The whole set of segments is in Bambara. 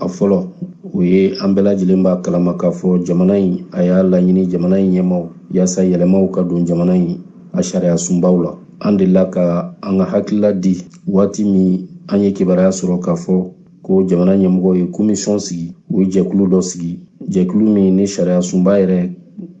a fɔlɔ o ye an bɛɛ lajɛlen b'a kalama k'a fɔ jamana in a y'a laɲini jamana in ɲɛmaw yaasa yɛlɛmaw ka don jamana in a sariya sunbaw la an delila ka an ka hakilila di waati min an ye kibaruya sɔrɔ k'a fɔ ko jamana ɲɛmɔgɔw ye komisɔn sigi u ye jɛkulu dɔ sigi jɛkulu min ni sariya sunba yɛrɛ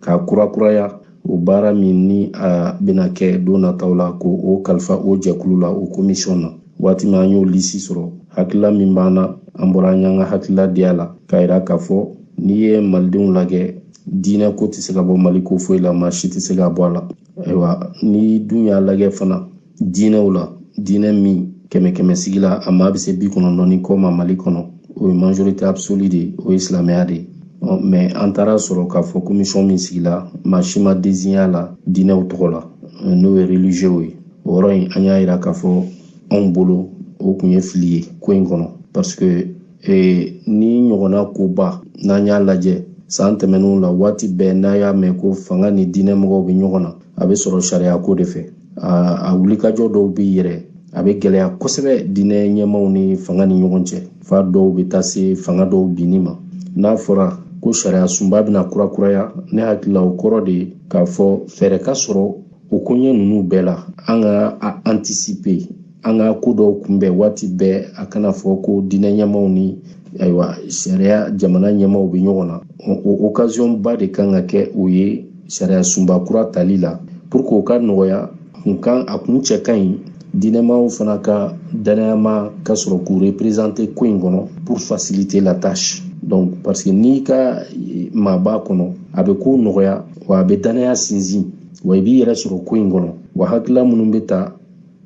ka kurakuraya o baara min ni a bɛna kɛ don nataw la ko o kalifa o jɛkulu la o komisɔn na waati min an y'o lisi sɔrɔ hakilila min b'an na an bɔra an y'an ka hakilila di a la k'a yira k'a fɔ n'i ye malidenw lajɛ diinɛ ko tɛ se ka bɔ mali ko foyi la maa si tɛ se ka bɔ a la ayiwa n'i dun y'a lajɛ fana diinɛw la diinɛ min kɛmɛ kɛmɛ sigi la a maa bɛ se bi kɔnɔntɔn ni kɔ ma mali kɔnɔ o ye majorité absolue de ye o ye silamɛya de ye mɛ an taara sɔrɔ k'a fɔ komisɔn min sigila maa si ma deziɲe a la diinɛw tɔgɔ la n'o ye religieux ye o yɔrɔ in an y'a yira k'a fɔ anw bolo o tun ye fili ye ko in kɔnɔ paseke eh, nin ɲɔgɔnna koba n'an y'a lajɛ san tɛmɛnenw la waati bɛɛ n'a y'a mɛn ko fanga ni diinɛ mɔgɔw bɛ ɲɔgɔn na a bɛ sɔrɔ sariya ko de fɛ a wulikajɔ dɔw bɛ yɛrɛ a bɛ gɛlɛya kosɛbɛ diinɛ ɲɛmaaw ni fanga ni ɲɔgɔn cɛ fo dɔw bɛ taa se fanga dɔw binni ma n'a fɔra ko sariya sunba bɛna kurakuraya ne hakili la o kɔrɔ de ye k'a fɔ fɛɛrɛ ka sɔrɔ o koɲɛ ninnu bɛɛ la an ka a antisipe an ka ko dɔw kunbɛn waati bɛɛ a kana fɔ ko diinɛ ɲɛmaw ni ayiwa sariya jamana ɲɛmaw bɛ ɲɔgɔn na o okaziyɔnba de kan ka kɛ o ye sariya sunba kura tali la pour que o ka nɔgɔya a kun cɛ ka ɲi diinɛmaw fana ka danayamaa ka sɔrɔ k'u reprezante ko in kɔnɔ pour faciliter la tâche donc parce que n'i ka maa b'a kɔnɔ a bɛ ko nɔgɔya wa a bɛ danaya sinsin wa i b'i yɛrɛ sɔrɔ ko in kɔnɔ wa hakilila minnu bɛ ta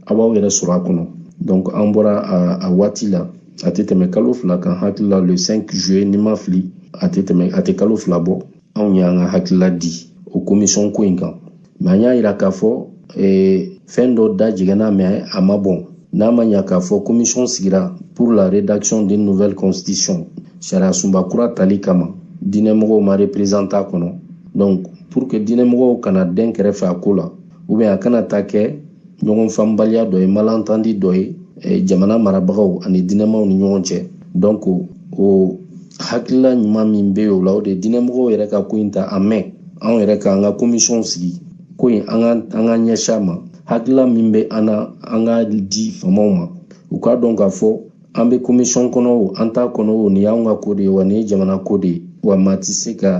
a b'aw yɛrɛ sɔrɔ a kɔnɔ donc an bɔra a waati la a tɛ tɛmɛ kalo fila kan hakilila le 5 juillet ni n ma fili a tɛ kalo fila bɔ anw y'an ka hakilila di o komisɔn ko in kan mɛ an y'a yira k'a fɔ eh, fɛn dɔ da jɛngɛnna mɛ a ma bɔn n'a ma ɲa k'a fɔ komisɔn sigira pour la rédaction d'une nouvelle constitution sariya sunba kura tali kama diinɛmɔgɔw ma reprezante a kɔnɔ donc pour que diinɛmɔgɔw kana dɛn kɛrɛfɛ a ko la ou bien a kana taa kɛ ɲɔgɔn faamubaliya dɔ ye malentendu dɔ ye eh, jamana marabagaw ani diinɛmaw ni ɲɔgɔn cɛ donc o hakilila ɲuman min bɛ yen o la o de ye diinɛmɔgɔw yɛrɛ ka ko in ta en main anw yɛrɛ ka an ka komisɔnw sigi ko in an ka an ka ɲɛsin a ma hakilila min bɛ an na an k'a di faamaw ma u k'a dɔn k'a fɔ an bɛ komisɔn kɔnɔ o an t'a kɔnɔ o nin y'anw ka ko de ye wa nin ye jamana ko de ye wa maa tɛ se ka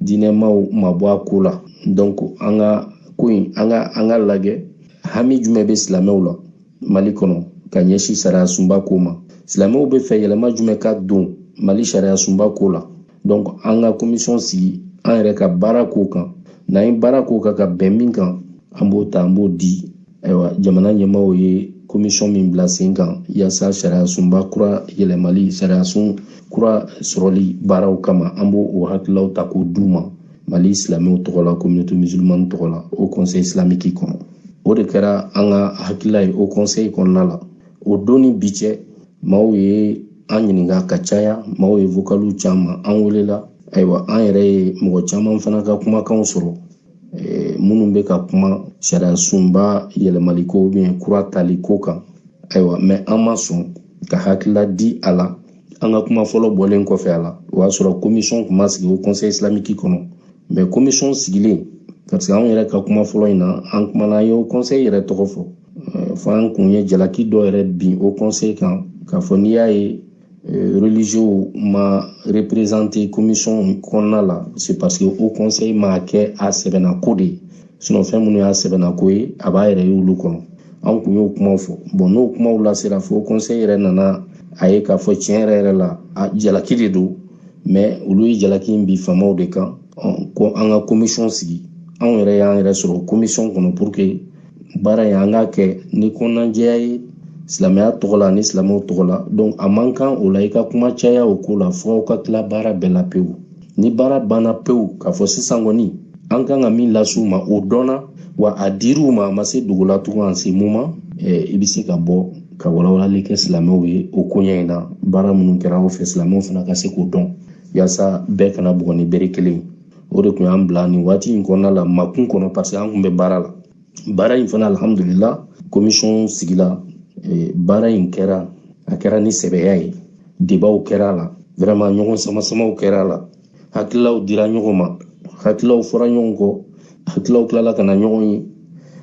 diinɛmaw mabɔ a ko la donc an ka ko in an ka an k'a lajɛ hami jumɛn bɛ silamɛw la mali kɔnɔ ka ɲɛsin sariyasunba ko ma silamɛw bɛ fɛ yɛlɛma jumɛn ka don mali sariyasunba ko la donc an ka komisɔn sigi an yɛrɛ ka baara k'o kan n'an ye baara k'o kan ka bɛn min kan an b'o ta an b'o di ayiwa jamana ɲɛmaaw ye komisɔn min bila sen kan yaasa sariyasunba kura yɛlɛmali sariyasun kura sɔrɔli baaraw kama an b'o o hakililaw ta k'o d'u ma mali silamɛw tɔgɔ la communauté musulmane tɔgɔ la haut conseil islamique kɔnɔ o de kɛra an ka hakilila ye haut conseil kɔnɔna la o don ni bi cɛ maaw ye an ɲininka ka caya maaw ye vokaliw c'an ma an welela ayiwa an yɛrɛ ye mɔgɔ caman fana ka kumakanw sɔrɔ eh, minnu bɛ ka kuma sariyasunba yɛlɛmaliko ou bien kura taliko kan ayiwa mais an ma sɔn ka hakilila di a la an ka kuma fɔlɔ bɔlen kɔfɛ a la o y'a sɔrɔ komisɔn tun ma sigi haut conseil islamique kɔnɔ mais komisɔn sigilen parce que anw yɛrɛ ka kuma fɔlɔ in na an kumana an ye haut conseil yɛrɛ tɔgɔ fɔ euh, fo an kun ye jalaki dɔ yɛrɛ bin haut conseil kan k'a fɔ n'i y'a ye euh, religieux ma représenter commission kɔnɔna la c'est parce que haut conseil m'a kɛ a sɛbɛ na ko de ye sinon fɛn minnu y'a sɛbɛ na ko ye a b'a yɛrɛ ye olu kɔnɔ an kun y'o kumaw fɔ bon n'o kumaw lasera fo conseil yɛrɛ nana a ye k'a fɔ tiɲɛ yɛrɛ yɛrɛ la a jalaki de don mais olu ye jalaki in bin faamaw de kan ko an ka komisiyɔn sigi anw yɛrɛ y'an yɛrɛ sɔrɔ komisiyɔn kɔnɔ pour que baara in an k'a kɛ ni kɔnɔnajɛya ye silamɛya tɔgɔ la ani silamɛw tɔgɔ la donc a man kan o la i ka kuma caya o ko la fo aw ka tila baara bɛɛ la pewu ni baara banna pewu k'a fɔ sisan kɔni an kan ka min lase u ma o dɔnna wa a dir'u ma a ma se dogo la tugun en ce moment i bɛ se ka bɔ ka walawalali kɛ silamɛw ye o koɲɛ in na baara minnu kɛra aw fɛ silamɛw fana ka se k'o dɔn yaasa bɛɛ kana bugɔ ni bere kelen o de kun y'an bila nin waati in kɔnɔna la makun kɔnɔ parce que an kun bɛ baara la baara in fana alhamdulila komisɔn sigila eh, baara in kɛra a kɛra ni sɛbɛya ye debaw kɛra a la vraiment ɲɔgɔn samasamaw kɛra a la hakililaw dira ɲɔgɔn ma hakililaw fɔra ɲɔgɔn kɔ hakililaw tilala ka na ɲɔgɔn ye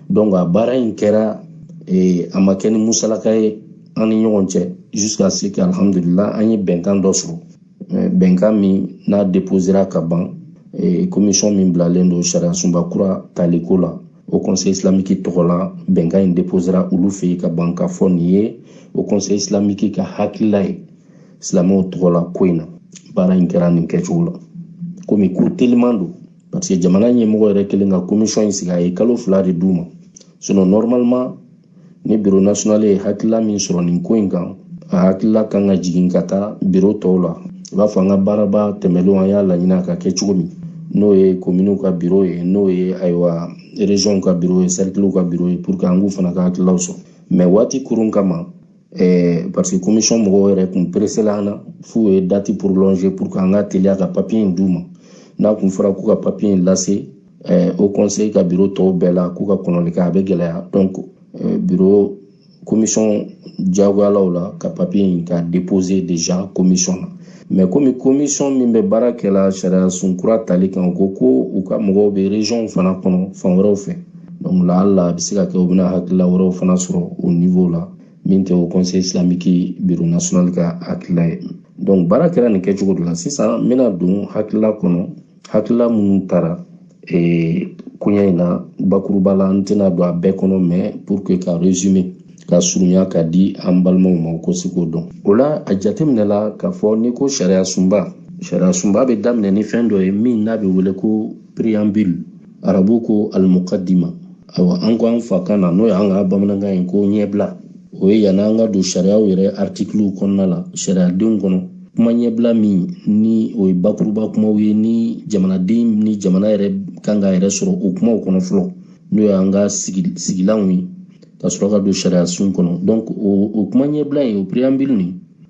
donc a baara in kɛra eh, a ma kɛ ni musalaka ye an ni ɲɔgɔn cɛ jusqu'à ce que alhamdulila an ye bɛnkan dɔ sɔrɔ bɛnkan min n'a deposera ka ban komisɔn min bilalen don sariyasunba kura taliko la haut conseil islamique tɔgɔ la bɛnkan in deposera olu fɛ yen ka ban k'a fɔ nin ye haut conseil islamique ka hakilila ye silamɛw tɔgɔ la ko in na baara in kɛra nin kɛcogo la komi ko teliman don parce que jamana ɲɛmɔgɔ yɛrɛ kelen ka komisɔn in sigi a ye kalo fila de d'u ma sinon normalement ni biro national ye hakilila min sɔrɔ nin ko in kan a hakilila kan ka jigin ka taa biro tɔw la i b'a fɔ an ka baaraba tɛmɛlenw an y'a laɲini a ka kɛ cogo min n'o ye kominiw ka biro ye n'o ye ayiwa rezɔnw ka biro ye sɛrikiliw ka biro ye puruke an k'u fana ka hakililaw sɔrɔ mɛ waati kurun kama ɛɛ parce que komisɔn mɔgɔw yɛrɛ kun peresela an na f'u ye dati prolonge puruke an ka teliya ka papiye in d'u ma n'a kun fɔra k'u ka papiye in lase haut conseil ka biro tɔw bɛɛ la k'u ka kɔnɔli kɛ a bɛ gɛlɛya donc biro komisɔn jagoyala o la ka papiye in ka déposer déjà komisɔn na mɛ komi komisɔn min bɛ baara kɛla sariyasun kura tali kan u ko ko u ka mɔgɔw bɛ régionw fana kɔnɔ fan wɛrɛw fɛ donc laala a bɛ se ka kɛ u bɛna hakilila wɛrɛw fana sɔrɔ o niveau la min tɛ haut conseil islamique bureau national ka hakilila ye donc baara kɛra nin kɛcogo de la sisan n bɛna don hakilila kɔnɔ hakilila minnu taara ee, koɲɛ in na bakuruba la n tɛna don a bɛɛ kɔnɔ mɛ pour que ka résumer ka surunya ka di an balimaw ma u ka se k'o dɔn o la a jateminɛla k'a fɔ n'i ko sariyasunba sariyasunba bɛ daminɛ ni fɛn dɔ ye min n'a bɛ wele ko préambule arabu ko almukadima ayiwa an ko an fakan na n'o y'an ka bamanankan ye ko ɲɛbila o ye yanni an ka don sariyaw yɛrɛ artikiliw kɔnɔna la sariyadenw kɔnɔ kuma ɲɛbila min ni o ye bakuruba kumaw ye ni jamanaden ni jamana yɛrɛ kan k'a yɛrɛ sɔrɔ o kumaw kɔnɔ fɔlɔ n'o y'an ka sigilanw ye ka sɔrɔ ka don sariyasun kɔnɔ o kuma ɲɛbila in o préambule nin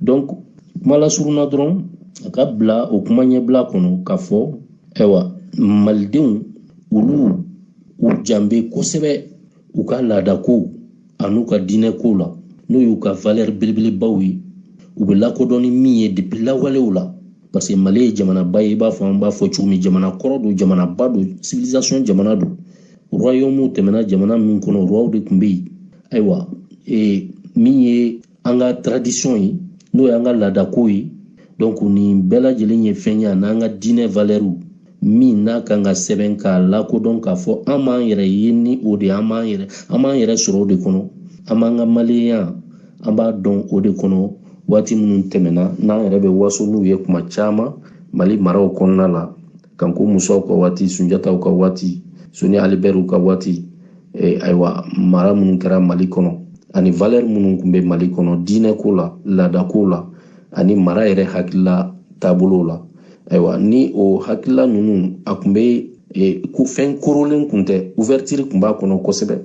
donc kuma lasurunna dɔrɔn a ka bila o kuma ɲɛbila kɔnɔ k'a fɔ ayiwa malidenw olu u jan bɛ kosɛbɛ u ka laadakow an'u ka diinɛ kow la n'o y'u ka valɛri belebelebaw ye u bɛ lakodɔn ni min ye depi lawalew la parce que mali ye jamanaba ye i b'a fɔ an b'a fɔ cogo min jamana kɔrɔ don jamanaba don civilisation jamana don royaume tɛmɛna jamana min kɔnɔ roiw de tun bɛ yen ayiwa ee min ye an ka tradition ye n'o y'an ka laadako ye donc nin bɛɛ lajɛlen ye fɛn ye an'an ka diinɛ valɛriw min n'a kan ka sɛbɛn k'a lakodɔn k'a fɔ an b'an yɛrɛ ye ni o de an b'an yɛrɛ sɔrɔ o de kɔnɔ an b'an ka maliyenya an b'a dɔn o de kɔnɔ waati minnu tɛmɛna n'an yɛrɛ bɛ waso n'u ye kuma caman mali maraw kɔnɔna la kanko musaw ka waati sunjataw ka waati soni ali bɛriw ka waati e, ayiwa mara minnu kɛra mali kɔnɔ ani valɛri minnu kun bɛ mali kɔnɔ diinɛko la laadako la ani mara yɛrɛ hakilila taabolo la ayiwa ni o hakilila ninnu a kun bɛ e, ko fɛn korolen kun tɛ ouverture kun b'a kɔnɔ kosɛbɛ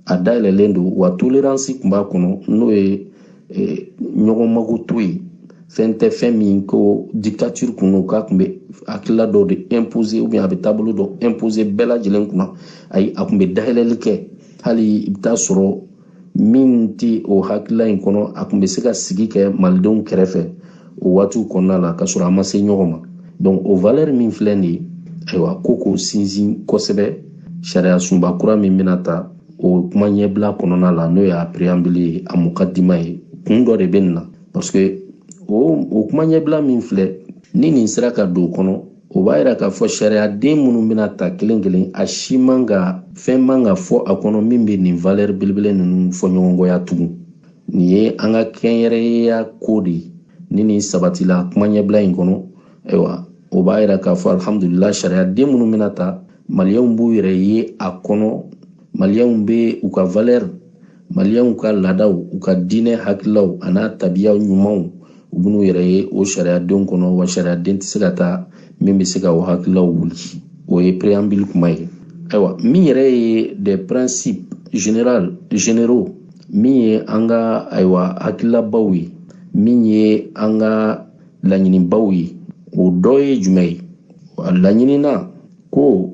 a dayɛlɛlen don wa toleransi kun b'a kɔnɔ n'o ye e, ɲɔgɔn makoto ye fɛn tɛ fɛn min ko dictature kun don k'a kun bɛ hakilila dɔ de imposer ou bien a bɛ taabolo dɔ imposer bɛɛ lajɛlen kunna ayi a kun bɛ dayɛlɛli kɛ hali i bɛ t'a sɔrɔ min tɛ o hakilila in kɔnɔ a kun bɛ se ka sigi kɛ malidenw kɛrɛfɛ o waatiw kɔnɔna la ka sɔrɔ a ma se ɲɔgɔn ma donc o valeur min filɛ nin ye ayiwa ko k'o sinsin kosɛbɛ sariya sunba kura min bɛna ta o kuma ɲɛbila kɔnɔna la n'o ye a preambule ye a mukadima ye kun dɔ de bɛ nin na parce que o o kuma ɲɛbila min filɛ ni nin sera ka don o kɔnɔ o b'a yira k'a fɔ sariyaden minnu bɛna ta kelen kelen a si man ka fɛn man ka fɔ a kɔnɔ min bɛ nin valeur belebele ninnu fɔɲɔgɔnkɔya tugun nin ye an ka kɛnyɛrɛyeya ko de ye ni nin sabatila kuma ɲɛbila in kɔnɔ ayiwa o b'a yira k'a fɔ alihamudulila sariyaden minnu bɛna ta maliyɛnw b'u yɛrɛ ye a kɔnɔ maliyɛnw bɛ u ka valɛri maliyɛnw ka laadaw u ka diinɛ hakililaw an'a tabiya ɲumanw u bɛn'u yɛrɛ ye o sariyadenw kɔnɔ wa sariyaden tɛ se ka ta min bɛ se ka o hakililaw wuli o ye preambili kuma ye ayiwa min yɛrɛ ye des principes général généraux min ye an ka ayiwa hakililabaw ye min ye an ka laɲinibaw ye o dɔ ye jumɛn ye a laɲinina ko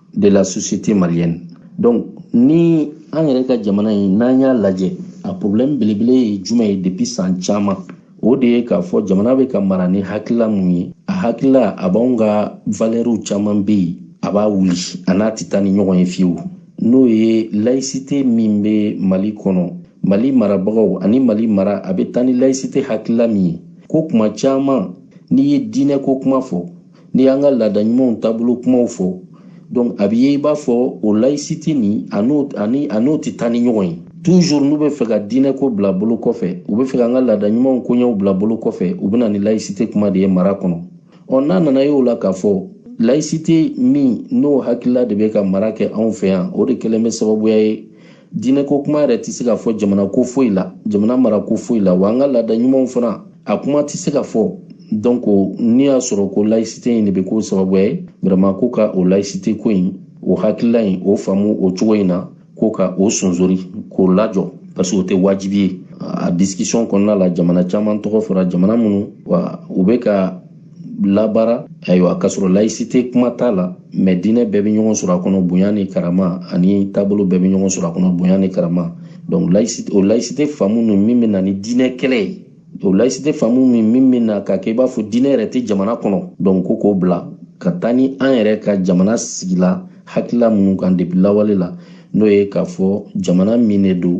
de la société malienne donc ni an yɛrɛ ka jamana in n'an y'a lajɛ a problème belebele ye jumɛn ye depuis san caman o de ye k'a fɔ jamana bɛ ka mara ni hakilila mun ye a hakilila a b'anw ka valɛriw caman bɛ yen a b'a wuli a n'a tɛ taa ni ɲɔgɔn ye fiyewu n'o ye layisite min bɛ mali kɔnɔ mali marabagaw ani mali mara a bɛ taa ni layisite hakilila min ye ko kuma caman n'i ye diinɛ ko kuma fɔ n'i y'an ka laada ɲumanw taabolo kumaw fɔ donc a bɛ ye i b'a fɔ o laïcité nin a n'o ani a n'o tɛ taa ni ɲɔgɔn ye toujours n'u bɛ fɛ ka diinɛ ko bila bolo kɔfɛ u bɛ fɛ ka an ka laada ɲumanw koɲɛw bila bolo kɔfɛ u bɛ na ni laïcité kuma de ye mara kɔnɔ ɔ n'a nana ye o la k'a fɔ laïcité min n'o hakilila de bɛ ka mara kɛ anw fɛ yan o de kɛlen bɛ sababuya ye diinɛ ko kuma yɛrɛ tɛ se ka fɔ jamana ko foyi la jamana mara ko foyi la wa an ka laada ɲumanw fana a kuma tɛ se ka fɔ donc n'i y'a sɔrɔ ko laïcité in de bɛ k'o sababuya ye vraiment ko ka o laïcité ko in o hakilila in o faamu o cogo in na ko ka o sonsori k'o lajɔ parce que o tɛ wajibi ye a discussion kɔnɔna la jamana caman tɔgɔ fɔra jamana minnu wa u bɛ ka labara ayiwa k'a sɔrɔ laïcité kuma t'a la mais diinɛ bɛɛ bɛ ɲɔgɔn sɔrɔ a kɔnɔ bonya ni karama ani taabolo bɛɛ bɛ ɲɔgɔn sɔrɔ a kɔnɔ bonya ni karama donc laïcité o laïcité faamu ninnu min bɛ na ni diinɛ kɛlɛ ye o laïcité faamu nin min bɛ na k'a kɛ i b'a fɔ diinɛ yɛrɛ tɛ jamana kɔnɔ donc ko k'o bila ka taa ni an yɛrɛ ka jamana sigila hakilila minnu kan depuis lawale la n'o ye k'a fɔ jamana min de don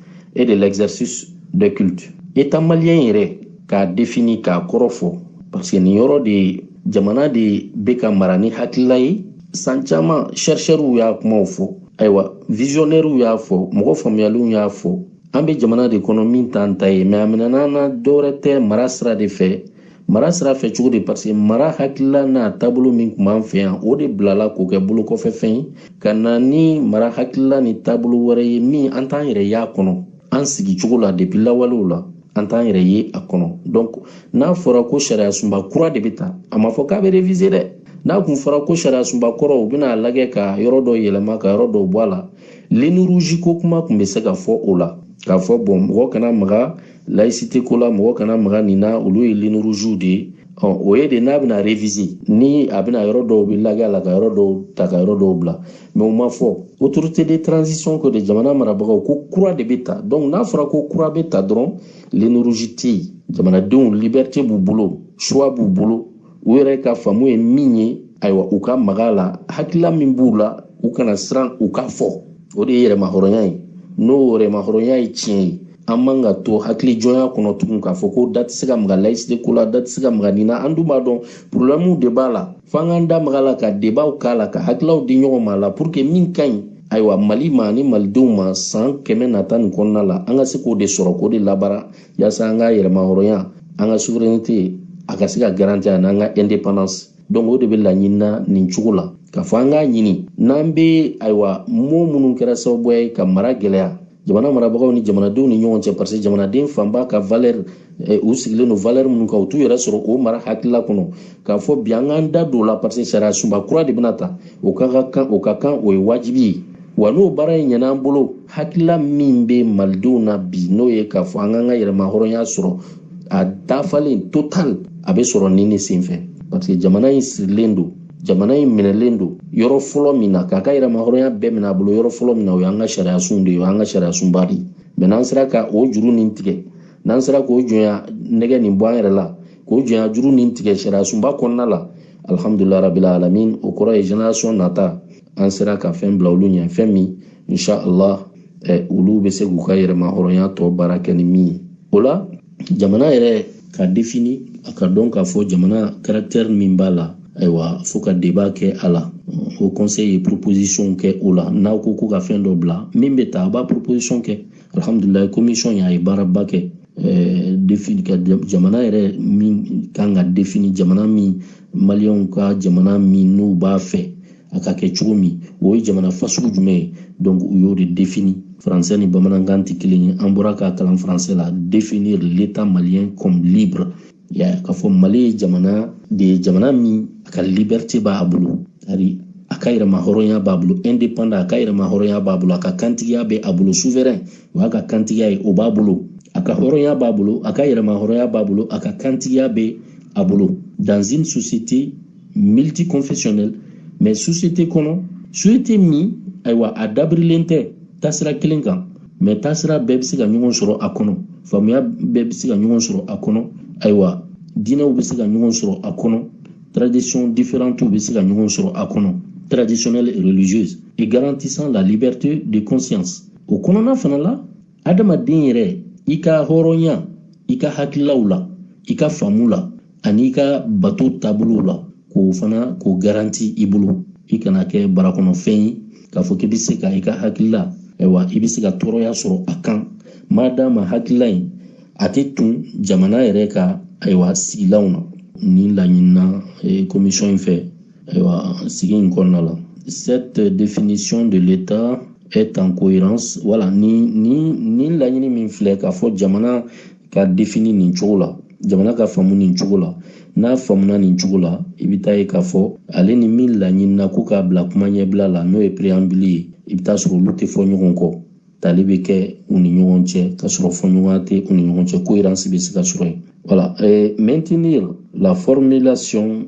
et de l'exercice de culte état malien yɛrɛ k'a défini k'a kɔrɔ fɔ parce que nin yɔrɔ de jamana de bɛ ka mara ni hakilila ye san caman chercheurs y'a kumaw fɔ ayiwa visionnaires y'a fɔ mɔgɔ faamuyalenw y'a fɔ an bɛ jamana de kɔnɔ min t'an ta ye mɛ a minɛna an na dɔwɛrɛ tɛ mara sira de fɛ mara sira fɛ cogo di paseke mara hakilila n'a taabolo min kun b'an fɛ yan o de bilala k'o kɛ bolokɔfɛfɛn ye ka na ni mara hakilila ni taabolo wɛrɛ ye min an t'an yɛrɛ y'a kɔnɔ an sigi cogo la depi lawalew la an t'an yɛrɛ ye a kɔnɔ donc n'a fɔra ko sariya sunba kura de bɛ ta a ma fɔ k'a bɛ reviser dɛ n'a kun fɔra ko sariya sunba kɔrɔ u bɛna a lagɛ ka yɔrɔ dɔ yɛlɛma ka yɔrɔ dɔw bɔ a la ligne rouge ko kuma kun bɛ se ka fɔ o la k'a fɔ bon mɔgɔ kana maga laïcité ko la mɔgɔ kana maga nin na olu ye lignes rouges de ye o ye de n'a bɛna réviser ni a bɛna yɔrɔ dɔw bɛ lagɛ a la ka yɔrɔ dɔw ta ka yɔrɔ dɔw bila mɛ o ma fɔ autorité de transition ko de jamana marabagaw ko kura de bɛ ta donc n'a fɔra ko kura bɛ ta dɔrɔn ligne rouge tɛ yen jamanadenw liberté b'u bolo choix b'u bolo u yɛrɛ ka faamu ye min ye ayiwa u ka maga a la hakilila min b'u la u kana siran u k'a fɔ o de ye yɛrɛmahɔrɔnya ye n'o yɛrɛmahɔrɔnya ye tiɲɛ ye an man ka to hakili jɔnya kɔnɔ tugun k'a fɔ ko da tɛ se ka maga layisite ko la da tɛ se ka maga nin na an dun b'a dɔn porobilɛmuw de b'a la f'an k'an da maga a la ka debaw k'a la ka hakililaw di ɲɔgɔn ma a la pour que min ka ɲi ayiwa mali ma ani malidenw ma san kɛmɛ nata nin kɔnɔna la an ka se k'o de sɔrɔ k'o de labara yaasa an ka yɛrɛmahɔrɔnya an ka souveraineté a ka se ka garanti ani an ka indépendance donc o de bɛ laɲini na nin cogo la k'a fɔ an k'a ɲini n'an bɛ ayiwa mot minnu kɛra sababuya ye ka mara gɛlɛya jamana marabagaw ni jamanadenw ni ɲɔgɔn cɛ parce que jamanaden fanba ka valeur eh, u sigilen don valeur minnu kan u t'u yɛrɛ sɔrɔ o mara hakilila kɔnɔ k'a fɔ bi an k'an da don o la parce que sariya sunba kura de bɛna ta o ka kan o ka kan o ye wajibi ye wa n'o baara in ɲɛna an bolo hakilila min bɛ malidenw na bi n'o ye k'a fɔ an k'an ka yɛrɛmahɔrɔnya sɔrɔ a dafalen total a bɛ sɔrɔ nin de senfɛ parce que jamana in sirilen don jamana in minɛlen don yɔrɔ fɔlɔ min na k'a ka yɛrɛmahɔrɔnya bɛɛ minɛ a bolo yɔrɔ fɔlɔ min na o y'an ka sariyasunw de ye o y'an ka sariyasunba de ye mɛ n'an sera ka o juru nin tigɛ n'an sera k'o jɔnya nɛgɛ nin bɔ an yɛrɛ la k'o jɔnya juru nin tigɛ sariyasunba kɔnɔna la alihamudulila rabili alamin o kɔrɔ ye génération nata an sera ka fɛn bila olu ɲɛ fɛn min insha allah eh, olu bɛ se k'u ka yɛrɛmahɔrɔnya tɔ baara kɛ ni min ye o la jamana yɛrɛ ka défini a ka dɔn k'a fɔ jamana caractère min b'a la ayiwa fo ka débat kɛ a la haut conseil ye proposition kɛ o la n'aw ko ko ka fɛn dɔ bila min bɛ ta a b'a proposition kɛ alhamdulilayi commission y'a ye baaraba kɛ eh, défini ka jamana yɛrɛ min kan ka défini jamana min maliyɛnw ka jamana min n'u b'a fɛ a ka kɛ cogo min o ye jamana fasugu jumɛn ye donc u y'o de défini français ni bamanankan tɛ kelen ye an bɔra k'a kalan français la définir l'état malien comme libre ya k'a fɔ mali ye jamana de ye jamana min a ka liberté b'a bolo ari a ka yɛrɛmahɔrɔnya b'a bolo indépendant a ka yɛrɛmahɔrɔnya b'a bolo a ka kantigiya bɛ a bolo souverain o y'a ka kantigiya ye o b'a bolo a ka hɔrɔnya b'a bolo a ka yɛrɛmahɔrɔnya b'a bolo a ka kantigiya bɛ a bolo dans une société multiconfessionnelle mais société kɔnɔ société min ayiwa a dabirilen tɛ taasira kelen kan mais taasira bɛɛ bɛ se ka ɲɔgɔn sɔrɔ a kɔnɔ faamuya bɛɛ bɛ se ka ɲɔgɔn sɔrɔ a kɔnɔ ayiwa diinɛw bɛ se ka ɲɔgɔn sɔrɔ a kɔnɔ tradition différentew bɛ se ka ɲɔgɔn sɔrɔ a kɔnɔ traditionnelle et religieuse et garantissant la liberté de conscience o kɔnɔna fana la adamaden yɛrɛ i ka hɔrɔnya i ka hakililaw la i ka faamu la ani i ka bato taabolow la k'o fana k'o garanti i bolo i kana kɛ barakɔnɔfɛn ye k'a fɔ k'i bɛ se ka i ka hakilila ayiwa i bɛ se ka tɔɔrɔya sɔrɔ a kan ma d'a ma hakilila in a tɛ tun jamana yɛrɛ ka ayiwa sigilanw na nin laɲinina commission in fɛ ayiwa sigi in kɔnɔna la cette définition de l'état est en cohérence voilà ni ni ni laɲini min filɛ k'a fɔ jamana ka défini nin cogo la jamana ka faamu nin cogo la n'a faamuna nin cogo la i bɛ t'a ye k'a fɔ ale ni min laɲinina ko k'a bila kuma ɲɛbila la n'o ye préambule ye i bɛ t'a sɔrɔ olu tɛ fɔ ɲɔgɔn kɔ tali bɛ kɛ u ni ɲɔgɔn cɛ ka sɔrɔ fɔɲɔgɔnya tɛ u ni ɲɔgɔn cɛ cohérence bɛ se ka sɔrɔ yen voilà euh, maintenir la formulation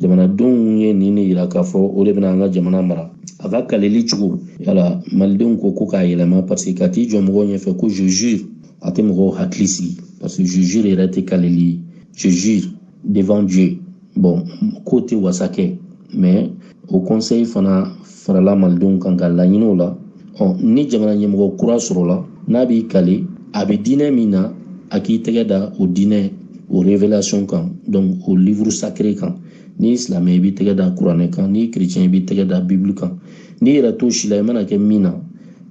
jamanadenw ye nin de yira k'a fɔ o de bɛna an ka jamana mara a ka kaleli cogoya la malidenw ko ko k'a yɛlɛma parce que ka t'i jɔ mɔgɔw ɲɛfɛ ko je jure a tɛ mɔgɔw hakili sigi parce que je jure yɛrɛ tɛ kaleli ye je jure devant dieu bon k'o tɛ wasa kɛ mais haut conseil fana farala malidenw kan ka laɲiniw la ɔ ni jamana ɲɛmɔgɔ kura sɔrɔla n'a b'i kale a bɛ diinɛ min na a k'i tɛgɛ da o diinɛ o révélation kan donc o livre sacré kan n'i silamɛ i b'i tɛgɛ da kuranɛ kan n'i chrétien i b'i tɛgɛ da bible kan n'i yɛrɛ t'o si la i mana kɛ min na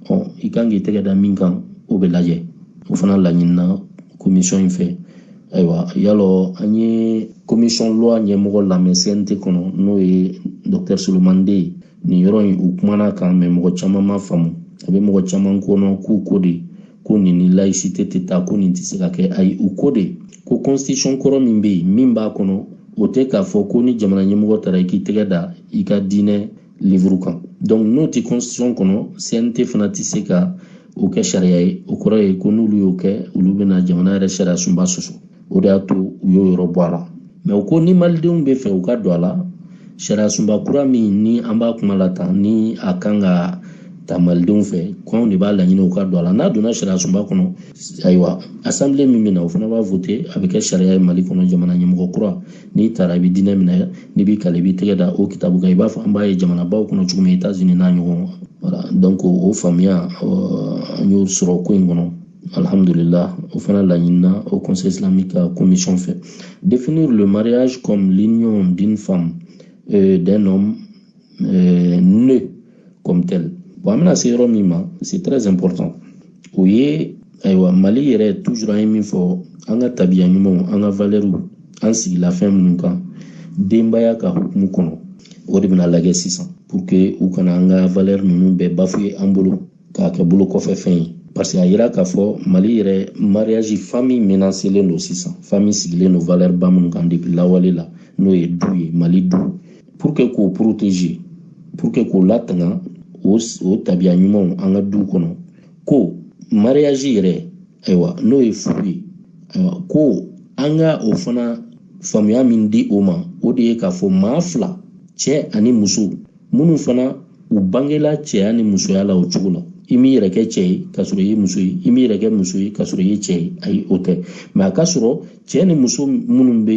ɔ i kan k'i tɛgɛ da min kan o bɛ lajɛ o fana laɲinina commission in fɛ ayiwa yalɔ an ye commission loi ɲɛmɔgɔ lamɛn cnt kɔnɔ n'o ye docteur souleymane dé ye nin yɔrɔ in u kumana kan mais mɔgɔ caman m'a faamu a bɛ mɔgɔ caman kɔnɔ k'u ko de ko nin ni laïcité tɛ taa ko nin tɛ se ka kɛ ayi u ko de ko constitution kɔrɔ min bɛ yen min b'a kɔnɔ o tɛ k'a fɔ ko ni jamana ɲɛmɔgɔ taara i k'i tɛgɛ da i ka diinɛ livre kan donc n'o tɛ constitution kɔnɔ cnt fana tɛ se ka o kɛ sariya ye o kɔrɔ ye ko n'olu y'o kɛ olu bɛna jamana yɛrɛ sariya sunba sɔsɔ o de y'a to u y'o yɔrɔ bɔ a la mais u ko ni malidenw b'a fɛ u ka don a la sariya sunba kura min ni an b'a kuma la tan ni a kan ka ta malidenw fɛ ko anw de b'a laɲini u ka don a la n'a donna sariya sunba kɔnɔ ayiwa assemblée min bɛ na o fana b'a voter a bɛ kɛ sariya ye mali kɔnɔ jamana ɲɛmɔgɔ kura n'i taara i bɛ diinɛ min na n'i b'i kali i b'i tɛgɛ da o kitabu kan i b'a fɔ an b'a ye jamanabaw kɔnɔ cogo min etats unis n'a ɲɔgɔn voilà donc o faamuya an y'o sɔrɔ ko in kɔnɔ alhamdulillah o fana laɲinina haut conseil islamique ka commission fɛ définir le mariage comme l'union d'une femme euh, d'un homme euh, né comme tel bon an bɛna se yɔrɔ min ma c'est très important o ye ayiwa mali yɛrɛ toujours an ye min fɔ an ka tabiya ɲumanw an ka valɛriw an sigila fɛn minnu kan denbaya ka hukumu kɔnɔ o de bɛna lajɛ sisan pour que u kana an ka valɛri ninnu bɛɛ bafouer an bolo k'a kɛ bolo kɔfɛ fɛn ye parce que a yira k'a fɔ mali yɛrɛ mariage famille menacelen don sisan famille sigilen don valeur ba minnu kan depuis lawale la n'o ye du ye mali du pour que k'o protéger pour que k'o latanga o o tabiya ɲumanw an ka du kɔnɔ ko mariage yɛrɛ ayiwa n'o ye furu ye ayiwa ko an ka o fana faamuya min di o ma o de ye k'a fɔ maa fila cɛ ani muso minnu fana u bangela cɛya ni musoya la o cogo la i m'i yɛrɛ kɛ cɛ ye k'a sɔrɔ i ye muso ye i m'i yɛrɛ kɛ muso ye k'a sɔrɔ i ye cɛ ye ayi o tɛ mais a ka sɔrɔ cɛ ni muso minnu bɛ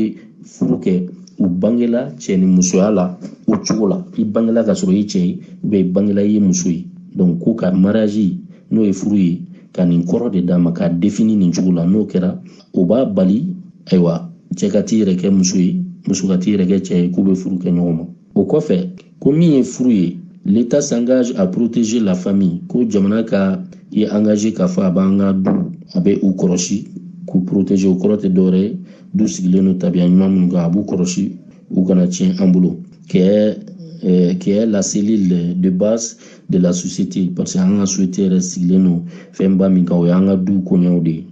furu kɛ u bangela cɛ ni musoya la o cogo la i bangela k'a sɔrɔ i ye cɛ ye ou bien i bangela i ye muso ye donc ko ka mariage n'o ye furu ye ka nin kɔrɔ de d'a ma k'a définir nin cogo la n'o kɛra o b'a bali ayiwa cɛ ka t'i yɛrɛ kɛ muso ye muso ka t'i yɛrɛ kɛ cɛ ye k'u bɛ furu kɛ ɲɔgɔn ma o kɔfɛ ko min ye furu ye l'état s'engage à protéger la famille ko jamana ka i engager k'a fɔ a b'an ka du a bɛ u kɔlɔsi k'u protéger o kɔrɔ tɛ dɔwɛrɛ ye du sigilen don tabiya ɲuman minnu kan a b'u kɔlɔsi u kana tiɲɛ an bolo kɛ euh, qui est la cellule de base de la société parce que an ka société yɛrɛ sigilen don fɛnba min kan o y'an ka du koɲɛw de ye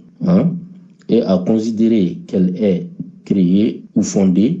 et à considérer qu'elle est créée ou fondée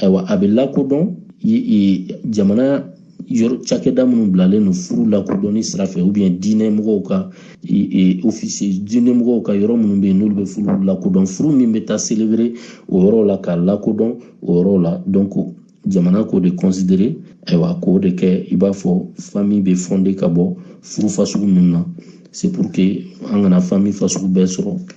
ayiwa a bɛ lakodɔn jamana cakɛda minnu bilalen don furu lakodɔnni sira fɛ ou bien diinɛ mɔgɔw ka ofisi diinɛ mɔgɔw ka yɔrɔ minnu bɛ yen n'olu bɛ furu lakodɔn furu min bɛ taa selebere o yɔrɔ la k'a lakodɔn o yɔrɔ la jamana k'o de kɔnsidere ayiwa k'o de kɛ i b'a fɔ fami bɛ fɔnde ka bɔ furu fasugu ninnu na sepurke an kana fami fasugu bɛɛ sɔrɔ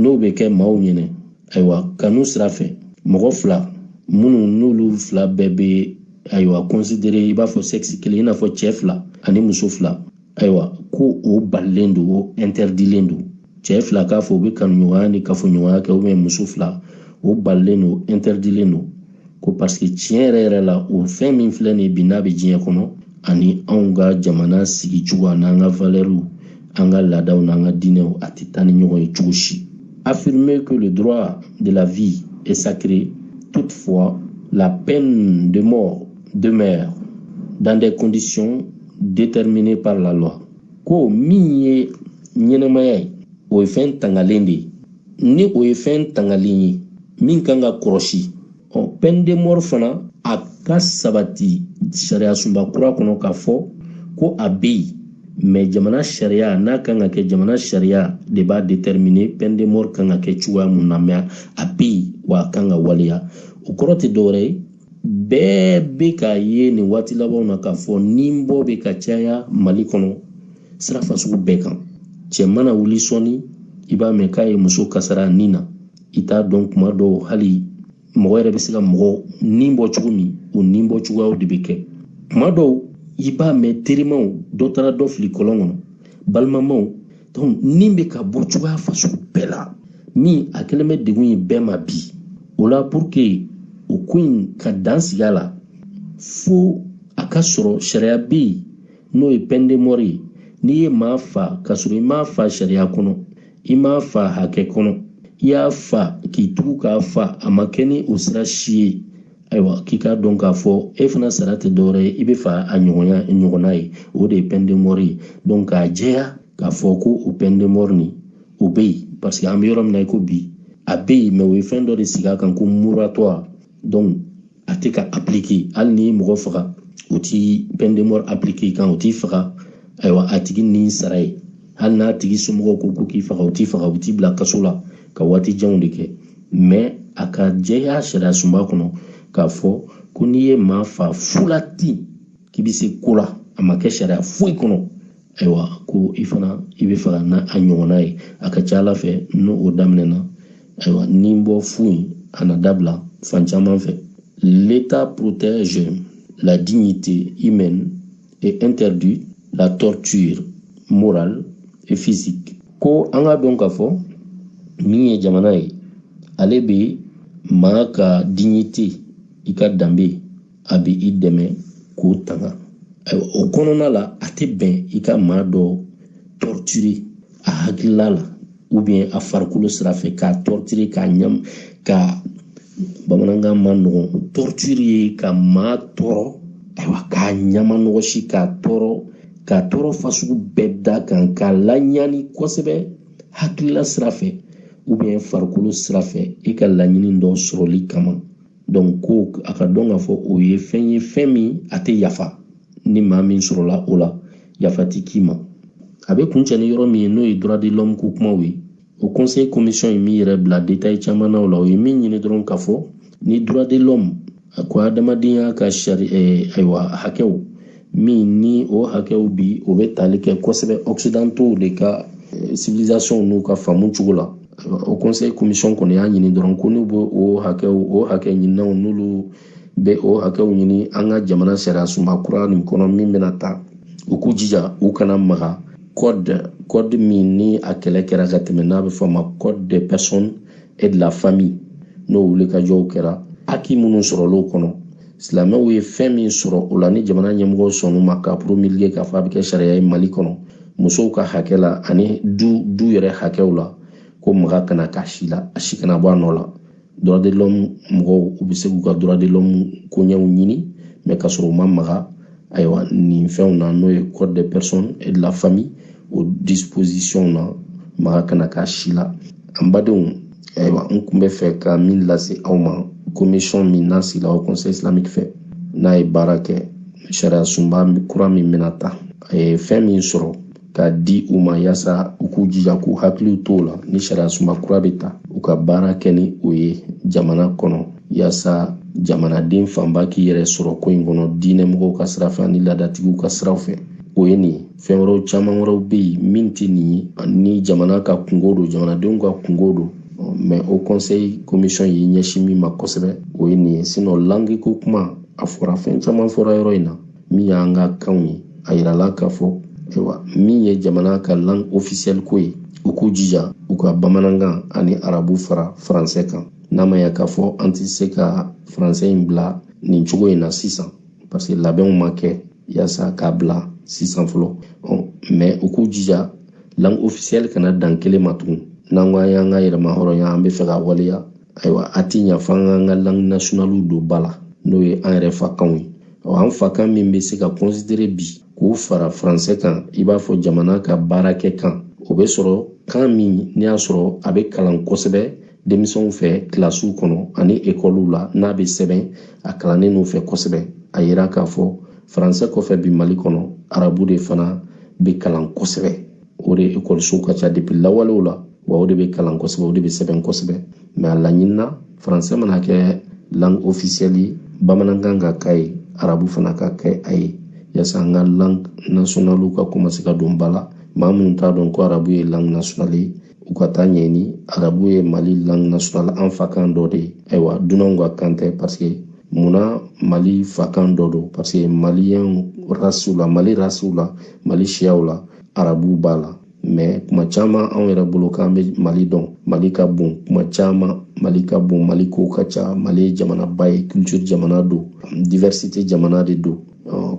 n'o bɛ kɛ maaw ɲɛna ayiwa kanu sira fɛ mɔgɔ fila minnu n'olu fila bɛɛ bɛ ayiwa kɔnsidere i b'a fɔ sɛgisi kelen i n'a fɔ cɛ fila ani muso fila ayiwa ko o balilen don o ɛntɛridilen don cɛ fila k'a fɔ u bɛ kanuɲɔgɔnya ni kafoɲɔgɔnya kɛ ou bien muso fila o balilen don ɛntɛridilen don ko paseke tiɲɛ yɛrɛ yɛrɛ la o fɛn min filɛ nin bi n'a bɛ diɲɛ kɔnɔ ani anw ka jamana sigicogo an'an ka valɛriw an ka laadaw n'an ka diinɛw a tɛ taa ni ɲɔgɔn ye cogo si affirmer que le droit de la vie est sacré toutefois la peine de mort demeure dans des conditions déterminées par la loi ko min ye ɲɛnamaya ye o ye fɛn tangalen de ye ni o ye fɛn tangalen ye min kan ka kɔrɔsi ɔ pɛndemɔri fana a ka sabati sariya sunba kura kɔnɔ k'a fɔ ko a bɛ yen mɛ jamana sariya n'a kan ka kɛ jamana sariya de b'a determine pɛndemɔri kan ka kɛ cogoya mun na mɛ a bɛ yen wa a kan ka waleya o kɔrɔ tɛ dɔwɛrɛ ye bɛɛ bɛ k'a ye nin waati labanw na k'a fɔ ni bɔ bɛ ka caya mali kɔnɔ sira fasugu bɛɛ kan cɛ mana wuli sɔɔni i b'a mɛn k'a ye muso kasara ni na i t'a dɔn kuma dɔw hali mɔgɔ yɛrɛ bɛ se ka mɔgɔ ni bɔ cogo min o ni bɔ cogoyaw de bɛ kɛ kuma dɔw i b'a mɛn terimaw dɔ taara dɔ fili kɔlɔn kɔnɔ balimamaw ni bɛ ka bɔ cogoya fasugu bɛɛ la min a kɛlen bɛ degun ye bɛɛ ma bi o la purke o ko in ka dan sigi a la fo a ka sɔrɔ sariya bɛ yen n'o ye pɛndemɔri ye n'i ye maa fa ka sɔrɔ i m'a fa sariya kɔnɔ i m'a fa hakɛ kɔnɔ i y'a fa k'i tugu k'a fa a ma kɛ ni o sira si ye ayiwa k'i k'a dɔn k'a fɔ e fana sara tɛ dɔwɛrɛ ye i bɛ fa a ɲɔgɔnna ye o de ye pɛndemɔri ye dɔnku k'a jɛya k'a fɔ ko o pɛndemɔri nin o bɛ yen parce que an bɛ yɔrɔ min na i ko bi a bɛ yen mɛ o ye fɛn dɔ de sigi a kan ko moratuwari dɔnku a tɛ ka apiliki hali ni mɔgɔ faga u ti pɛndemɔri apiliki i kan u t'i faga ayiwa a tigi ni sara ye hali n'a tigi somɔgɔw ko ko k'i faga u t'i faga u b'i bila kaso la ka waati janw de kɛ mɛ a ka jɛya sariya sunba kɔnɔ k'a fɔ ko n'i ye maa fa fu la ten k'i bɛ se ko la a ma kɛ sariya foyi kɔnɔ ayiwa ko i fana i bɛ faga n'a a ɲɔgɔnna ye a ka ca ala fɛ ni o daminɛna ayiwa ni bɔ fu in a na dabila fan caman fɛ l'état protège la dignité humaine et interdit la torture morale et physique ko an ka dɔn k'a fɔ min ye jamana ye ale bɛ maa ka dignité i ka danbe a bɛ i dɛmɛ k'o tanga ayiwa o kɔnɔna la a tɛ bɛn i ka maa dɔ torturer a hakilila la ou bien a farikolo sira fɛ k'a torturer k'a ɲam ka bamanankan ma nɔgɔn torture ye ka maa tɔɔrɔ ayiwa k'a nimanɔgɔsi k'a tɔɔrɔ k'a tɔɔrɔ fasugu bɛɛ d'a kan k'a laɲani kosɛbɛ hakilila sira fɛ ou bien farikolo sira fɛ i ka laɲini dɔ sɔrɔli kama donc ko a ka dɔn k'a fɔ o ye fɛn ye fɛn min a tɛ yafa ni maa min sɔrɔla o la yafa ti k'i ma a bɛ kuncɛ ni yɔrɔ min ye n'o ye droit de l'homme ko kumaw ye o conseil commission ye min yɛrɛ bila détail caman na o la o ye min ɲini dɔrɔn k'a fɔ ni droit de l'homme a ko adamadenya ka sari eh, ayiwa hakɛw min ni o hakɛw bi o bɛ tali kɛ kosɛbɛ occidentaux de ka eh, civilisation n'u ka faamu cogo la o conseil commission kɔni y'a ɲini dɔrɔn ko n'u bɛ o hakɛw o hakɛ ɲininaw n'olu bɛ o hakɛw ɲini an ka jamana sariya sunba kura nin kɔnɔ min bɛna ta u k'u jija u kana maga code code min ni a kɛlɛ kɛra ka tɛmɛ n'a bɛ fɔ a ma code des personnes et de la famille n'o wulikajɔw kɛra haki minnu sɔrɔl'o kɔnɔ silamɛw ye fɛn min sɔrɔ o la ni jamana ɲɛmɔgɔw sɔnn'u ma k'a promulguer k'a fɔ a bɛ kɛ sariya ye mali kɔnɔ musow ka hakɛ la ani du du yɛrɛ hakɛw la ko maga kana k'a si la a si kana bɔ a nɔ la droit de l'homme mɔgɔw u bɛ se k'u ka droit de l'homme koɲɛw ɲini mais k'a sɔrɔ u ma maga ayiwa nin fɛnw na n'o ye code des personnes et de la famille o disposition na maga kana k'a si la an badenw ayiwa n kun bɛ fɛ ka min lase aw ma commission min n'a sigila o conseil islamique fɛ n'a ye baara kɛ sariya sunba kura min bɛna ta a ye fɛn min sɔrɔ k'a di u ma yaasa u k'u jija k'u hakiliw t'o la ni sariya sunba kura bɛ ta u ka baara kɛ ni o ye jamana kɔnɔ yaasa jamanaden fanba k'i yɛrɛ sɔrɔ ko in kɔnɔ diinɛmɔgɔw ka sira fɛ ani laadatigiw ka siraw fɛ o ye nin fɛn wɛrɛw caman wɛrɛw bɛ yen min tɛ nin ye ni jamana ka kunko don jamanadenw ka kunko don mais o conseil commission y'i ɲɛsin min ma kosɛbɛ o ye nin ye sinon langue ko kuma a fɔra fɛn caman fɔra yɔrɔ in na min y'an ka kanw ye a yirala k'a fɔ ayiwa min ye jamana ka langue officielle ko ye u k'u jija u ka bamanankan ani arabu fara faransɛ kan n'a ma ya k'a fɔ an tɛ se ka faransɛ in bila nin cogo in na sisan parce que labɛnw ma kɛ yaasa k'a bila sisan fɔlɔ mais u k'u jija langue officielle kana dan kelen ma tugun n'an ko an y'an ka yɛrɛmahɔrɔnya an b'a fɛ k'a waleya ayiwa a ti ɲa f'an k'an ka langue nationalew don ba la n'o ye an yɛrɛ fakanw ye an fakan min bɛ se ka considérer bi k'o fara français kan i b'a fɔ jamana ka baarakɛ kan o bɛ sɔrɔ kan min n'i y'a sɔrɔ a bɛ kalan kosɛbɛ denmisɛnw fɛ kilasiw kɔnɔ ani ekɔliw la n'a bɛ sɛbɛn a kalannen n'u fɛ kosɛbɛ a yira k'a fɔ faransɛ kɔfɛ bi mali kɔnɔ arabu de fana bɛ kalan kosɛbɛ o de ekɔlisow ka ca depuis lawalew la wa o de bɛ kalan kosɛbɛ o de bɛ sɛbɛn kosɛbɛ mais a laɲinina faransɛ mana kɛ langue officielle ye bamanankan ka k'a ye arabu fana ka kɛ a ye yaasa an ka langue nationalew ka commencer ka don ba la maa minnu t'a dɔn ko arabu ye langue nationale ye u ka taa ɲɛɲini arabu ye mali langue nationale an fakan dɔ de ye ayiwa dunanw ka kan tɛ parce que munna mali fakan dɔ don parce que maliyɛnw rasiw la mali rasiw la mali siyaw la arabuw b'a la mais kuma caman anw yɛrɛ bolo k'an bɛ mali dɔn mali ka bon kuma caman mali ka bon mali kow ka ca mali ye jamanaba ye culture jamana don diversité jamana de don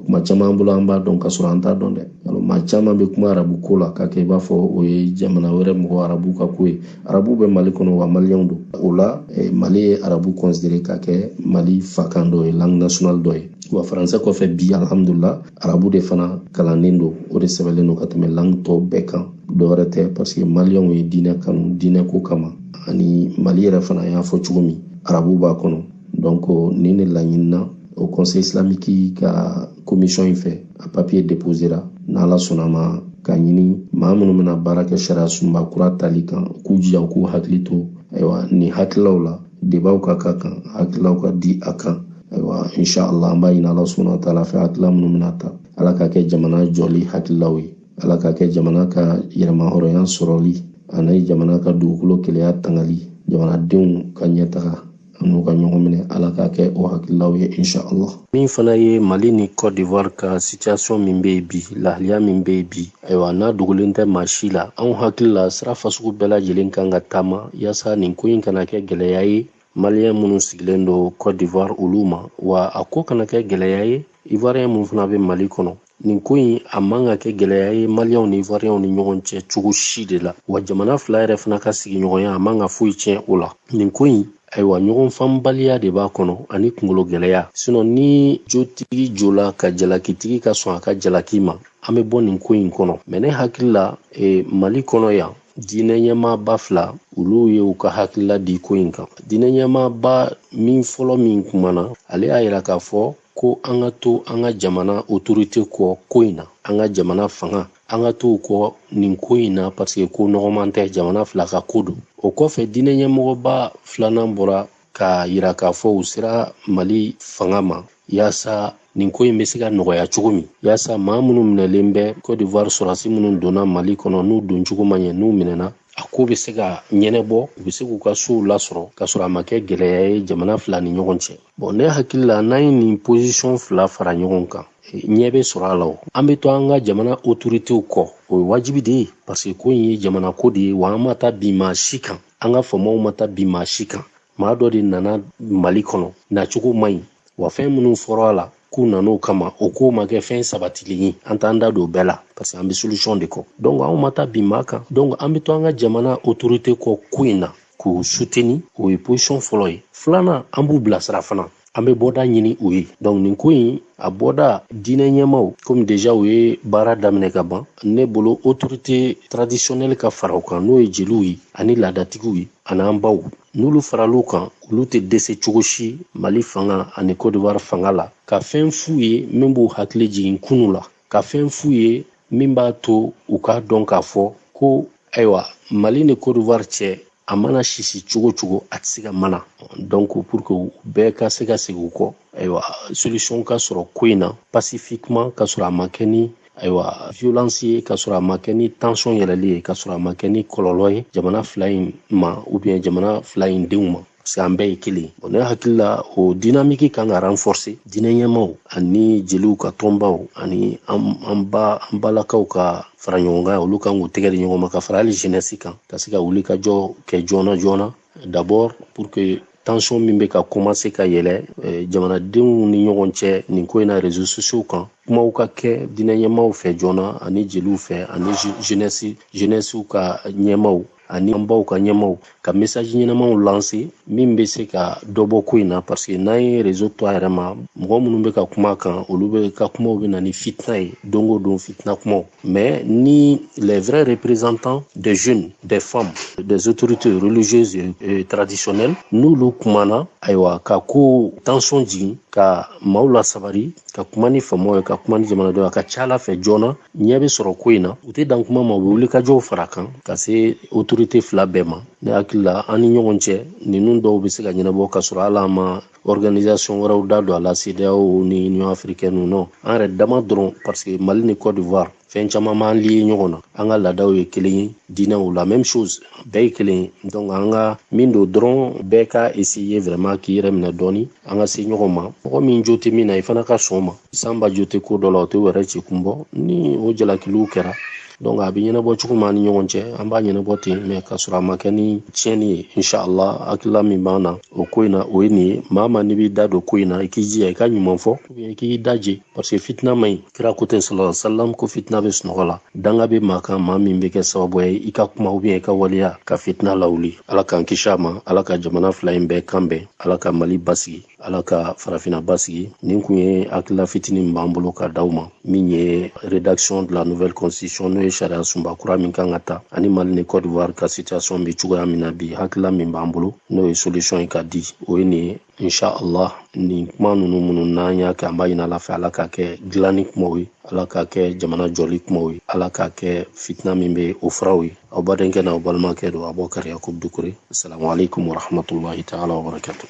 kuma caman bolo an b'a dɔn ka sɔrɔ an t'a dɔn dɛ maa caman bɛ kuma arabu ko la k'a kɛ i b'a fɔ o ye jamana wɛrɛ mɔgɔ arabu ka ko ye arabu bɛ mali kɔnɔ wa maliyɛnw don o la e, mali ye arabu considérer k'a kɛ mali fakan dɔ ye langue nationale dɔ ye wa faransɛ kɔfɛ bi alhamdulillah arabu de fana kalannen don o de sɛbɛnlen don ka tɛmɛ langue tɔw bɛɛ kan dɔwɛrɛ tɛ parce que maliyɛnw ye diinɛ kanu diinɛ ko kama ani mali yɛrɛ fana n y'a fɔ cogo min arabu b'a kɔnɔ donc nin de laɲinina haut conseil islamique ka commission in fɛ a papier déposera n'ala sɔnna a ma k'a ɲini maa minnu bɛna baara kɛ sariya sunba kura tali kan k'u jija k'u hakili to ayiwa nin hakililaw la débatw ka k'a kan hakililaw ka di a kan ayiwa insha allah an b'a ɲini ala subahana wa taala fɛ hakilila minnu bɛna ta ala k'a kɛ jamana jɔli hakililaw ye ala k'a kɛ jamana ka yɛrɛmahɔrɔnya sɔrɔli ani jamana ka dugukolo kelenya tangali jamanadenw ka ɲɛtaga an'u ka ɲɔgɔn minɛ ala k'a kɛ o hakililaw ye insha allah min fana ye mali ni côte d'ivoire ka situation min bɛ yen bi lahaliya min bɛ yen bi ayiwa n'a dogolen tɛ maa si la anw hakili la sira fasugu bɛɛ lajɛlen kan ka taama yaasa nin ko in kana kɛ gɛlɛya ye maliyɛn minnu sigilen don cote d'ivoire olu ma wa a ko kana kɛ gɛlɛya ye ivoiriyɛn minnu fana bɛ mali kɔnɔ nin ko in a man ka kɛ gɛlɛya ye maliyɛnw ni ivoiriyɛnw ni ɲɔgɔn cɛ cogo si de la wa jamana fila yɛrɛ fana ka sigiɲɔgɔnya a man ka foyi tiɲɛ o la nin ko in ayiwa ɲɔgɔn faamubaliya de b'a kɔnɔ ani kungolo gɛlɛya sinon ni jotigi jola ka jalakitigi ka sɔn a ka jalaki ma an bɛ bɔ nin ko in kɔnɔ mɛ ne hakili la e, mali kɔnɔ yan diinɛ ɲɛmaaba fila olu ye u ka hakilila di ko in kan diinɛ ɲɛmaaba min fɔlɔ min kumana ale y'a yira k'a fɔ ko an ka to an ka jamana otorite kɔ ko in na an ka jamana fanga an ka to u kɔ nin ko in na paseke ko nɔgɔman tɛ jamana fila ka ko don o kɔfɛ diinɛ ɲɛmɔgɔba filanan bɔra k'a yira k'a fɔ u sera mali fanga ma yaasa nin ko in bɛ se ka nɔgɔya cogo min yaasa maa minnu minɛlen bɛ cote d'ivoire sɔrɔdasi minnu donna mali kɔnɔ n'u don cogo ma ɲɛ n'u minɛna a ko bɛ se ka ɲɛnabɔ u bɛ se k'u ka sow lasɔrɔ k'a sɔrɔ a ma kɛ gɛlɛya ye jamana fila ni ɲɔgɔn cɛ bɔn ne hakili la n'an ye nin posisɔn fila fara ɲɔgɔn kan ɲɛ bɛ sɔrɔ a la o an bɛ to an ka jamana otoritew kɔ o ye wajibi de ye parce que ko in ye jamana ko de ye wa an ma taa bin maa si kan an ka faamaw ma taa bin maa si kan maa dɔ de nana mali kɔnɔ nacogo man ɲi wa fɛn minnu fɔra a la k'u nan'o kama o ko ma kɛ fɛn sabatilen ye an t'an da don bɛɛ la parce que an bɛ solution de kɔ donc anw ma taa bin maa kan donc an bɛ to an ka jamana autorité kɔ ko in na k'u suteni o ye posisiyɔn fɔlɔ ye filanan an b'u bilasira fana an bɛ bɔda ɲini u ye donc nin ko in a bɔda diinɛ ɲɛmaw komi deja u ye baara daminɛ ka ban ne bolo autorité traditionnelle ka fara u kan n'o ye jeliw ye ani laadatigiw ye an'an baw n'olu faral'u kan olu tɛ dɛsɛ cogo si mali fanga ani kodiwari fanga la ka fɛn f'u ye min b'u hakili jigin kunu la ka fɛn f'u ye min b'a to u k'a dɔn k'a fɔ ko ayiwa mali ni cote d'ivoire cɛ a mana sisi cogo cogo a tɛ se ka mana donc pour que bɛɛ ka se ka segin u kɔ ayiwa solution ka sɔrɔ ko in na pacifiquement k'a sɔrɔ a ma kɛ ni ayiwa violence ye k'a sɔrɔ a ma kɛ ni tension yɛlɛli ye k'a sɔrɔ a ma kɛ ni kɔlɔlɔ ye jamana fila in ma ou bien jamana fila in denw ma parce que an bɛɛ ye kelen bɔn ne hakili la o dinamiki kan ka ranfɔse diinɛ ɲɛmaw ani jeliw ka tɔnbaw ani an ba an balakaw ka fara ɲɔgɔn kan olu kan k'u tɛgɛ di ɲɔgɔn ma ka fara hali jenɛsi kan ka se ka wulikajɔ kɛ joona joona d'abord pour que tansɔn min bɛ ka kɔmanse ka yɛlɛ eh, jamanadenw ni ɲɔgɔn cɛ nin ko in na rezo sosiyo kan kumaw ka kɛ diinɛ ɲɛmaw fɛ joona ani jeliw fɛ ani jenɛsi jenɛsiw ka ɲɛmaw ani an baw ka ɲɛmaaw ka message ɲɛnamaw lancer min bɛ se ka dɔ bɔ ko in na parce que n'an ye réseau to a yɛrɛ ma mɔgɔ minnu bɛ ka kuma kan olu bɛɛ ka kumaw bɛ na ni fitina ye don o don fitina kumaw mais ni les vrais représentants des jeunes des femmes des autorités religieuses et traditionnelles n'olu kumana ayiwa ka ko tension jigin ka maaw lasabari ka kuma ni faamaw ye ka kuma ni jamanadenw a ka ca ala fɛ joona ɲɛ bɛ sɔrɔ ko in na u tɛ dan kuma ma u bɛ wulikajɔw fara kan ka se autorité fila bɛɛ ma ne hakili la an ni ɲɔgɔn cɛ ninnu dɔw bɛ se ka ɲɛnabɔ k'a sɔrɔ hali an ma organisation wɛrɛw da don a la CEDEAO ni Union africaine non an yɛrɛ dama dɔrɔn parce que Mali ni Côte d'Ivoire fɛn caman b'an lié ɲɔgɔn na an ka laadaw ye kelen ye diinɛw la même chose bɛɛ ye kelen ye donc an ka min don dɔrɔn bɛɛ ka essayer vraiment k'i yɛrɛ minɛ dɔɔni an ka se ɲɔgɔn ma mɔgɔ min jo tɛ min na i fana ka sɔn o ma sanba jo tɛ ko dɔ la o tɛ wɛrɛ ci kun bɔ ni o jalakiliw kɛra donc a bɛ ɲɛnabɔ cogo min an ni ɲɔgɔn cɛ an b'a ɲɛnabɔ ten mais k'a sɔrɔ a ma kɛ ni tiɲɛni ye inshallah hakilila min b'an na o ko in na o ye nin ye maa ma n'i b'i da don ko in na i k'i jija i ka ɲuman fɔ i k'i daje parce que fitina man ɲi kira ko ten sala salam ko fitina bɛ sunɔgɔ la danga bɛ maa kan maa min bɛ kɛ sababu ye i ka kuma ou bien i ka waleya ka fitina lawuli ala k'an kisi a ma ala ka jamana fila in bɛɛ kan bɛn ala ka mali basigi ala ka farafina basigi nin kun ye hakilila fitini min b'an bolo ka d'aw ma min ye rédaction de la nouvelle constitution n'o ye sariya sunba kura min kan ka ta ani mali ni côte d'ivoire ka situation bɛ cogoya min na bi hakilila min b'an bolo n'o ye solution ye ka di o ye nin ye insha allah nin kuma ninnu minnu n'an y'a kɛ an b'a ɲini ala fɛ ala k'a kɛ dilanni kumaw ye ala k'a kɛ jamana jɔli kumaw ye ala k'a kɛ fitina min bɛ o furaw ye aw badenkɛ n'aw balimakɛ don abubakari yakubu dukure asalamu alaikum warahmatullahi taala wabarakatu